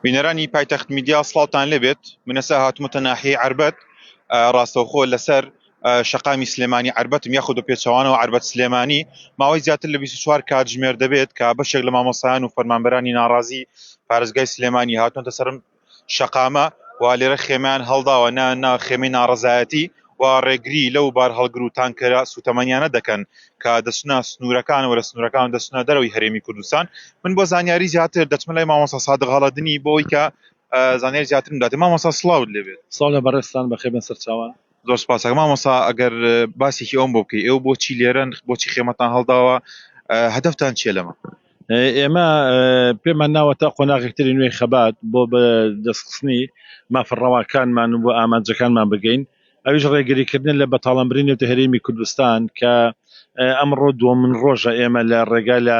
بینەرانی پایتەخت میدیا سڵاوتان لێبێت منەسا هاتمەتە ناحی عربەت ڕاستەوخۆ لەسەر شەقامی سلێمانی عربەتم یاخود بە پێچوانەوە عربەت سلێمانی ماوەی زیاتر لە 24 کاتژمێر دەبێت کە بەشێک لە مامۆسایان و فەرمانبەرانی ناڕازی پارێزگای سلێمانی هاتونەتە سرم شەقامە و لێرە خێمەیان هەڵداوە، نا نا خێمەی ناڕەزایەتی و ڕێگری لەو بارهەڵگر و تانکەرە سووتەمەنییانە دەکەن کە دەچنە سنوورەکان و لە سنوورەکان دەچنە دەرەوەی هەرێمی کوردستان. من بۆ زانیاری زیاتر دەچمە لای مامۆستا سادق هەڵەدنی بۆ ئەوەی کە زانیاری زیاترم بداتێ. مامۆستا سڵاوت لێ بێت. سڵاو لە بەڕێزتان، بەخێربێن سەرچاوان. زۆر سپاس کاک مامۆستا ئەگەر باسێکی ئەوم بۆ بکەی ئێوە بۆچی لێرەن بۆچی خێمەتان هەڵداوە ئە، هەدەفتان چییە لەمە ئێمە ئە، پێمان ناوە تا قۆناغێکتری نوێی خەبات بۆ بە دەستخستنی مافە ڕەواکانمان و ئامانجەکانمان بگەین ئەویش ڕێگریکردنە لە بەتاڵانبرین نێوتە هەرێمی کوردستان کە ئە، ئەمڕۆ دووەمن ڕۆژە ئێمە لە ڕێگا لە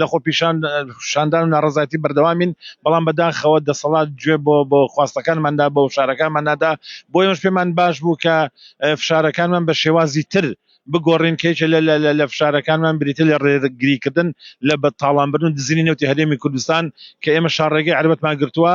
لە خۆپیشاندان و ناڕەزایەتی بەردەوامین، بەڵام بەداخەوە دەسەڵات گوێ بۆ خواستەکانماندا بۆ فشارەکانمان نادا، بۆ ئێمەش پێمان باش بوو کە فشارەکانمان بە شێوازی تر بگۆڕین، کە یەکێک لە فشارەکانمان بریتیە لە ڕێگریکردن لە تاڵانبردن و دزینی نەوتی هەرێمی کوردستان، کە ئێمە شاڕێگەی عەربەتمان گرتووە،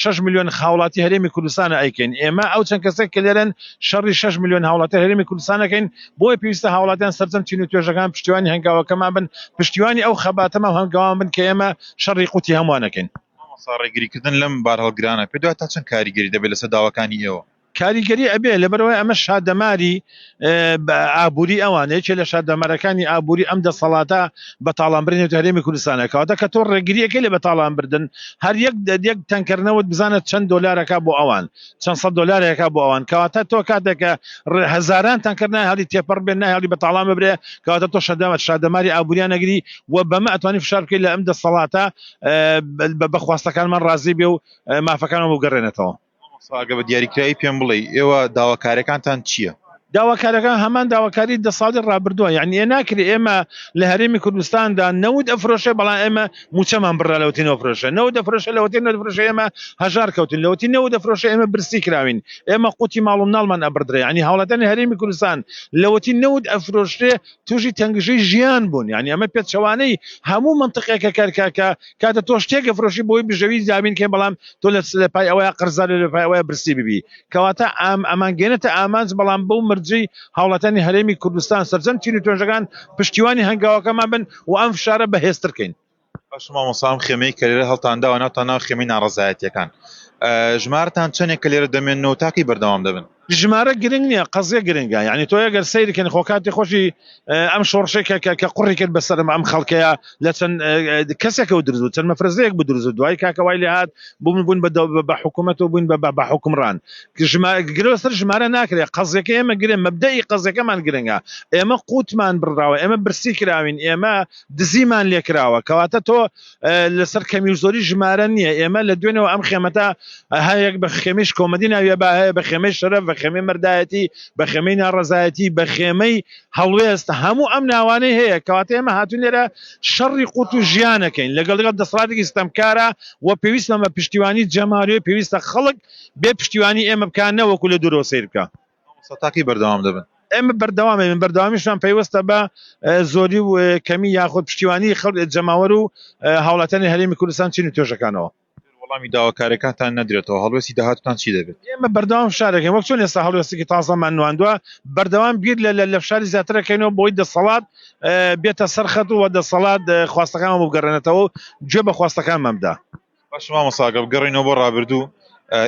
شەش ملیۆن هاوڵاتی هەرێمی کوردستانە ئەیکەین ئێمە ئەو چەند کەسەی کە لێرەن شەڕی شەش ملیۆن هاوڵاتی هەرێمی کوردستان ئەکەین بۆیە پێویستە هاوڵاتیان سەرجەم چین و توێژەکان پشتیوانی هەنگاوەکەمان بن پشتیوانی ئەو خەباتەمان و هەنگاوان بن کە ئێمە شەڕی قوتی هەمووان ئەکەین. مامۆستا ڕێگریکردن لەم بارهەڵگرانە پێت وایە تا چەند کاریگەری دەبێت لەسەر داواکانی ئێوە؟ کاریگەری ئەبێ لەبەرئەوەی ئەمە شادەماری ئابوری ئەوانە یەکێ لە شادەمارەکانی ئابوری ئەم دەسەڵاتە بەتاڵانبرنی نەوتی هەرێمی کوردستانە کەواتە کە تۆ ڕێگریەکەی لە بەتاڵانبردن هەر یەک یەک تەنکەر نەوت بزانە چەند دۆلارەکە بۆ ئەوان چەند سەد دۆلارێکە بۆ ئەوان کەواتە تۆ کاتێکە هەزاران تەنکەر نای هەڵی تێپەڕ بێن نای هەڵی بەتاڵان ببرێ کەواتە تۆ شەدەمە شادەماری ئابوریان نەگری و بەمە ئەتوانی فشار بکەیت لە ئەم دەسەڵاتە بە بەخواستەکانمان ڕازی بێ و مافەکانەوە بگەڕێنێتەوە مامۆستا ئەگەر بە دیاریکراوی پێم بڵێی ئێوە داواکاریەکانتان چیە؟ داواکاریەکان هەمان داواکاری دە ساڵی ڕابردووە یانی ئێ ناکرێ ئێمە لە هەرێمی کوردستاندا نەوت ئەفرۆشێ بەڵام ئێمە موچەمان بڕرا لەوەتی نەوفرۆشێ نەوت ئەفرۆشێ لەوەتی نەوت ئەفرۆشێ ئێمە هەژار کەوتین لەوەتی نەوت ئەفرۆشێ ئێمە برسی کراوین ئێمە قوتی ماڵ و مناڵمان ئەبڕدرێ یانی هاوڵاتیانی هەرێمی کوردستان لەوەتی نەوت ئەفرۆشرێ تووشی تەنگژەی ژیان بوون یانی ئەمە پێچەوانەی هەموو مەنتقێکە کە کە کاتە تۆ شتێک ئەفرۆشی بۆی بژەوی زیابین کەین بەڵام تۆ لە لە پای ئەوەیە قەرزار لە پای ئەوەیە برسی ببی کەواتە ئام ئەمان گەێنێتە ئامانج بەڵام بەو مەرجەی هاوڵاتیانی هەرێمی کوردستان سەرجەم چین و توێژەکان پشتیوانی هەنگاوەکەمان بن و ئەم فشارە بەهێزتر کەین. باشە مامۆستا ئەم خێمەی کە لێرە هەڵتان داوە ناوتان ناوە خێمەی ناڕەزایەتییەکان ژمارەتان چەندێک کە لێرە دەمێننەوە تاکەی بەردەوام دەبن؟ ژمارە گرنگ نییە قەزیە گرنگە یعنی تۆ ئەگەر سەیری کەن خۆ کاتی خۆشی ئەم شۆڕشێک کە کە کە قڕی کرد بەسەرم ئەم خەڵکەیە لە چەند کەسێکە و درزو چەند مەفرزەیەک بدرزو دوای کاکەوای لێهات بووم بوون بە بە حکوومەت و بووین بە بە حکومڕان ژما گرۆ سەر ژمارە ناکرێت قەزیەکە ئێمە گرێ مەبدەی قەزیەکەمان گرنگە ئێمە قوتمان بڕاوە ئێمە برسی کراوین ئێمە دزیمان لێکراوە کەواتە تۆ لەسەر کەمی و زۆری ژمارە نییە ئێمە لە دوێنەوە ئەم خێمەتا هەیەک بە خێمیش کۆمەدی ناویە با هەیە بە خێمەی شەرەف بە خێمەی مردایەتی بە خێمەی ناڕزایەتی بە خێمەی هەڵوێست هەموو ئەم ناوانەی هەیە کەواتە ئێمە هاتون لێرە شەڕی قوت و ژیانەکەین لەگەڵ لەگەڵ دەسڵاتێکی ستەمکارە و پێویستمە پشتیوانی جەماوی پێویستە خەڵک بێ پشتیوانی ئێمە بکەن نەوەکو لە دورۆ سیر بکە مامۆستا تا کەی بەردەوام دەبن؟ ئێمە بەردەوام دەبین، بەردەوامیشمان پەیوەستە بە زۆری و کەمی یاخود پشتیوانی خەڵک، جەماوەر و هاوڵاتیانی هەرێمی کوردستان چین و توێژەکانەوە. ئەگەر وەڵامی داواکارییەکانتان نەدرێتەوە، هەڵوێستی داهاتووتان چی دەبێت؟ ئێمە بەردەوام فشار دەکەین، وەک چۆن ئێستا هەڵوێستێکی تازەمان نواندووە، بەردەوام بیر لە فشاری زیاتر دەکەینەوە بۆی دەسەڵات بێتە سەر خەت و دەسەڵات خواستەکانمان بۆ بگەڕێنێتەوە و گوێ بە خواستەکانمان بدا. باشە مامۆستا ئەگەر بگەڕێینەوە بۆ ڕابردوو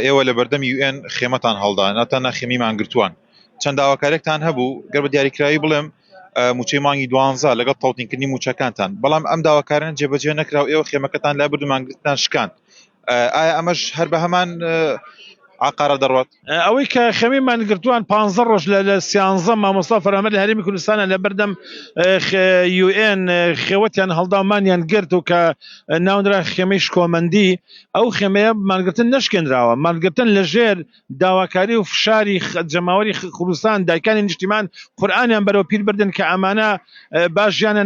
ئێوە لە بەردەم یو ئێن خێمەتان هەڵدا ناتە ناخێمی مانگرتووان چەند داواکارێکتان هەبوو گەر بە دیاریکراوی بڵێم موچەی مانگی دوانزە لەگەڵ تەوتینکردنی موچەکانتان بەڵام ئەم داواکارن جێبەجێ نەکرا و ئێوە خێمەکەتان لای بردو مانگرتان شکاند ئایا ئەمەش هەر بە هەمان عقارە دەڕوات ئەوەی کە خەمی مانگرتووان پ ڕۆژ لە لە سیانزە مامۆستا فەرامەر لە هەرمی کوردستانە لە بەردەم یUN خێوەتیان هەڵداومانیان گرت و کە ناونرا خێمەی شکۆمەندی ئەو خێمەیە مانگرتن نشکێنراوە مانگرتن لە ژێر داواکاری و فشاری جەماوەری کوردستان دایکانی نیشتیمان قورآانیان بەرەو پیر بردن کە ئەمانە باژیانە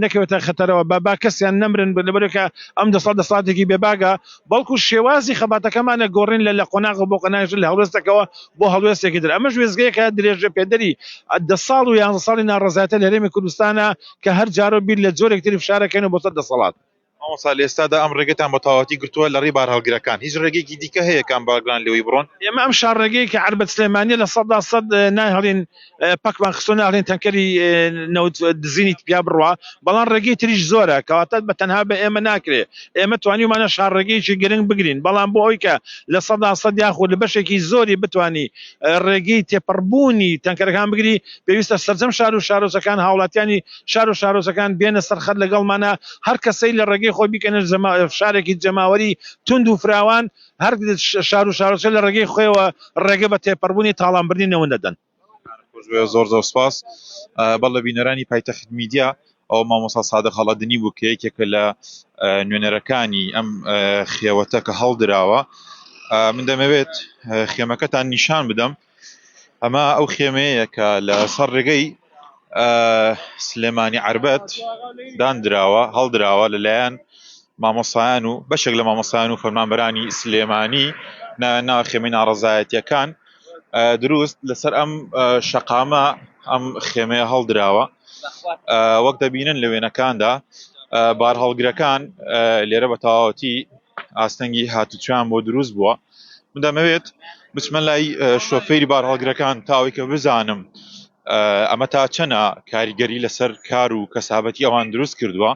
نەکەوێتە خەتەرەوە بە با کەسیان نەمرن لەبەرەکە ئەم دەسا دەساتێکی بێباگە بەڵکو شێوازی خەباتەکەمانە گۆڕین لە لە قۆناغ بۆ قۆناغ، لە هەڵوێستەکەوە بۆ هەڵوێستێکی تر. ئەمەش وێستگەیەکە درێژەپێدەری دە ساڵ و یانزە ساڵی ناڕەزایەتە لە هەرێمی کوردستانە کە هەر جارەو بیر لە جۆرێک تری فشارەکەینەوە بۆ سەر دەسەڵات. مامۆستا لە ئێستادا ئەم ڕێگەتان بە تەواوەتی گرتووە لە ڕێی بارهەڵگرەکان، هیچ ڕێگەیەکی دیکە هەیە کە ئەم بارگرانە لێوەی بڕۆن؟ ئێمە ئەم شاڕێگەی کە عەربەت سلێمانیە لە سەدا سەد نایهڵین، پەکمان خستۆ ناخرێن تەنکەری نەوت دزینیت پیا بڕوا بەڵام ڕێگەی تریش زۆرە کەواتەت بە تەنها بە ئێمە ناکرێ ئێمە توانیمانە شارڕێگەیەکی گرنگ بگرین بەڵام بۆ ئەوی کە لە سەدا سەد یاخود لە بەشێکی زۆری بتانی ڕێگەی تێپەڕبوونی تەنکەرەکان بگری پێویستە سەرجەم شار و شارۆچەکان هاوڵاتیانی شار و شارۆچەکان بێنە سەرخەت لەگەڵمانە هەر کەسەی لە ڕێگەی خۆی بیکەنە شارێکی جەماوەری تونند و فراوان هەر شار و شارۆچکە لە ڕێگەی خۆیەوە ڕێگە بە تێپەڕبوونی تاڵانبردنی نەوت دەدەن. زۆر زۆر سپاس بەڵێ بینەرانی پایتەخت میدیا ئەو مامۆستا سادە خەڵەدنی بوو کە یەکێکە لە نوێنەرەکانی ئەم خێوەتە کە هەڵدراوە من دەمەوێت خێمەکەتان نیشان بدەم ئەمە ئەو خێمەیە کە لە سەر ڕێگەی سلێمانی عربەت دانراوە هەڵدراوە لەلایەن مامۆسایان و بەشێک لە مامۆسایان و فەرمانبەرانی سلێمانی ناو خێمەی ناڕزایەتیەکان دروست لەسەر ئەم شەقامە ئەم خێمەیە هەڵدراوە وەک دەبینن لە وێنەکاندا بارهەڵگرەکان لێرە بە تەواوەتی ئاستەنگی هاتوچیان بۆ دروست بووە من دەمەوێت بچمە لای شۆفێری بارهەڵگرەکان تاوەیکە بزانم ئەمە تا چەنە کاریگەری لەسەر کار و کەسابەتی ئەوان دروست کردووە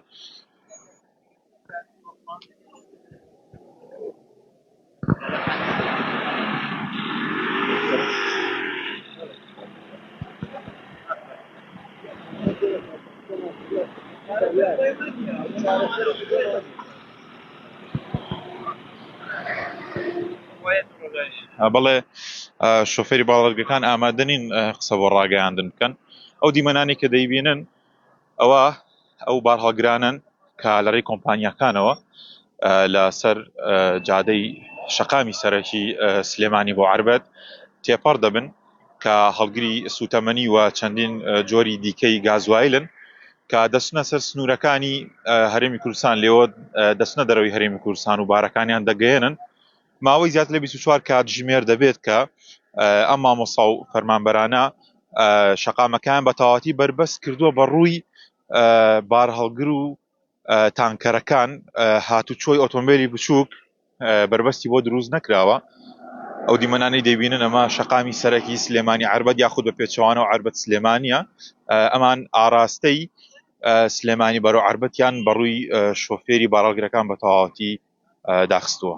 Yeah. بەڵێ شوفێری باڵەرگەکان ئامادە نین قسە بۆ ڕاگەیاندن بکەن ئەو دیمەنانی کە دەیبینن ئەوە ئەو بارهەڵگرانن کە لەڕێی کۆمپانیاکانەوە لەسەر جادەی شەقامی سەرەکی سلێمانی بۆ عربەت تێپەڕ دەبن کە هەڵگری سووتەمەنی و چەندین جۆری دیکەی گازوایلن کە دەچنە سەر سنوورەکانی هەرێمی کوردستان لێوە دەچنە دەرەوەی هەرێمی کوردستان و بارەکانیان دەگەیەنن ماوەی زیاتر لە 24 کاتژمێر دەبێت کە ئەم مامۆسا و فەرمانبەرانە شەقامەکان بە تەواتی بەربەست کردووە بە ڕووی بارهەڵگر و تانکەرەکان هاتوچۆی ئۆتۆمبێلی بچووک بەربەستی بۆ دروست نەکراوە ئەو دیمەنانی دەبینن ئەمە شقامی سەرەکی سلێمانی عربەت یاخود بە پێچەوانە و عربەت سلێمانە ئەمان ئاراستەی سلێمانی بەرەو عربەتیان بەڕووی شۆفێری باراڵگرەکان بە تەواوەتی داخستووە.